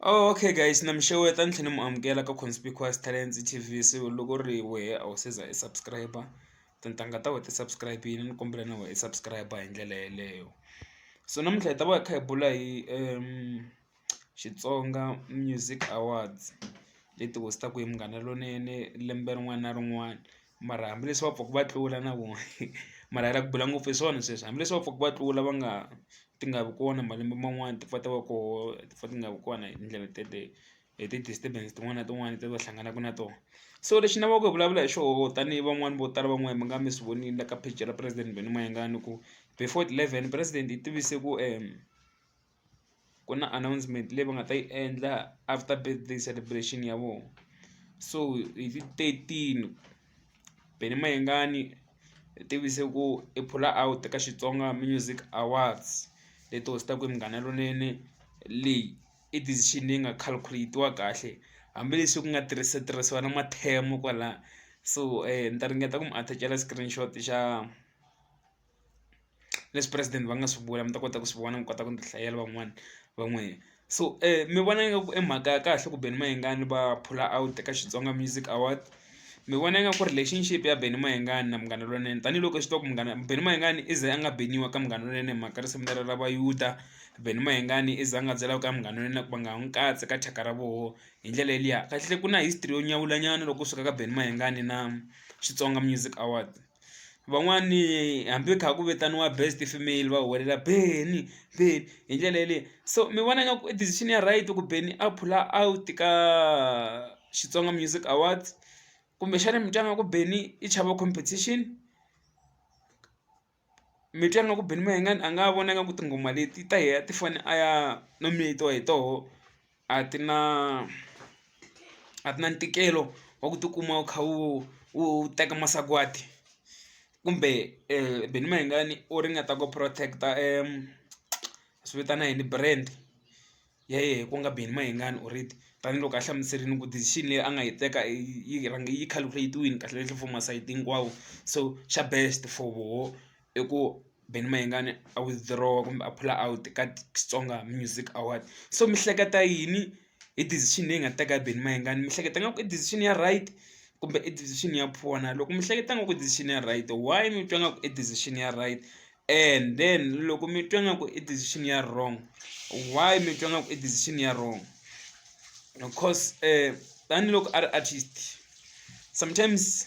Oh, okay guys na mi xeweta ni tlhela ni mu amukela ka conspicuous talents tv so loko ri wehe a wu seza i subscribe tintangha ta we ti subscribe yini ni kombela na we i subscribe hi ndlela yeleyo so namuntlha hi ta va hi kha hi bula hi um xitsonga music awards leti host-aku hi munghana lonene lembe rin'wana na rin'wana Mara hambileswi va pfuka va tlula na vona mara hi lava ku bula ngopfu hi swona sweswo hambileswi va pfuka va tlula va nga ti nga vi kona malembe man'wani ti pfa ti va koho ti pfa ti nga vi kona hi tindlela teleyo hi ti disturbance tin'wana na tin'wana leti va hlanganaka na tona so lexi ni lavaka ku vulavula hi xoho tanihi van'wani vo tala van'wani mi nga mi swi vonile la ka page ra president Benny Mayengani ku before ti-eleven president i tivise ku . ku na announcement leyi va nga ta yi endla after birthday celebration ya vona so hi ti thirteen Benny Mayengani hi tivise ku i phula out ka Xitsonga Music Awards leti host-aku hi Munghana Lonene leyi i decision leyi nga calculate-iwa kahle hambileswi ku nga tirhisa tirhisiwa na mathemo kwala so ni ta ringeta ku mi attach-ela screenshot xa. leswi president va nga swi vula mi ta kota ku swi vona mi kota ku ti hlayela van'wani va n'wina so mi vona nga ku i mhaka ya kahle ku Benny Mayengani va phula out ka Xitsonga Music Award mi vona nga ku relationship ya Benny Mayengani na Munghana Lonene tanihiloko hi swi tiva ku munghana Benny Mayengani i ze a nga beniwa ka Munghana Lonene hi mhaka risimu lera ra vayuda Benny Mayengani i za a nga byela ku ka Munghana Lonene ku va nga ha n'wi katsi ka thyaka ra voho hi ndlela yeliya kahlekahle ku na history yo nyawula nyana loko u suka ka Benny Mayengani na Xitsonga Music Award. van'wani hambi kha ku vitaniwa best female va huwelela Benny Benny hi ndlela yaleyo so mi vona nga ku i decision ya right ku Benny a phula out ka Xitsonga Music Awards kumbexana mi twa nga ku Benny i chava competition mi twa nga ku Benny Mayengani a nga vona nga ku tinghoma leti ta yena ti fane a ya nominate-iwa hi toho. a ti na a ti na ntikelo wa ku tikuma u kha u u teka masagwati kumbe Benny Mayengani u ringeta ku protect a va swi vitana yini brand ya yena ku nga Benny Mayengani already tanihiloko a hlamuserile ku decision leyi a nga yi teka yi rhange yi calculate-wile kahlekahle for masayiti hinkwawo so xa best for voho. i ku Benny Mayengani a withdraw-a kumbe a phula out ka Xitsonga Music Award so mi hleketa yini hi decision leyi nga teka Benny Mayengani mi hleketa nga ku i decision ya right kumbe i decision ya poor na loko mi hleketa nga ku i decision ya right why mi twa nga ku i decision ya right and then loko mi twa nga ku i decision ya wrong why mi twa nga ku i decision ya wrong coz tanihiloko a ri artist sometimes.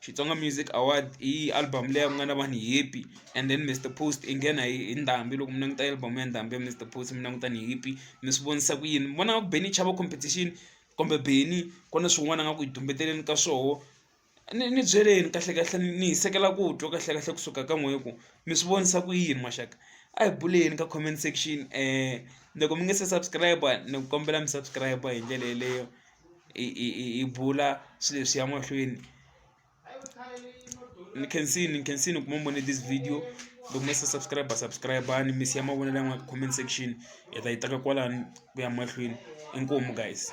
Xitsonga Music Award i album leyi ku nga na vanhu happy and then Mister Post i nghena hi hi ndhambi loko mi languta album ya ndhambi ya Mister Post mi languta ni happy mi swi vonisa ku yini mi vona nga ku Benny i chava competition kumbe Benny ku na swin'wana a nga ku hi tumbeteleni ka swoho ni ni byeleni kahlekahle ni hisekela ku twa kahlekahle kusuka ka n'wehe ku mi swi vonisa ku yini maxaka a hi buleni ka comment section loko mi nga se subscribe ni kombela mi subscribe hi ndlela yeleyo. hi hi hi hi bula swilo leswi ya mahlweni ni khensini ni khensini ku mi ni vone this video loko mi se subscribe subscribe-ani mi siya mavonelo yan'wani ka comment section hi ta yi teka kwalano ku ya mahlweni inkomu guys.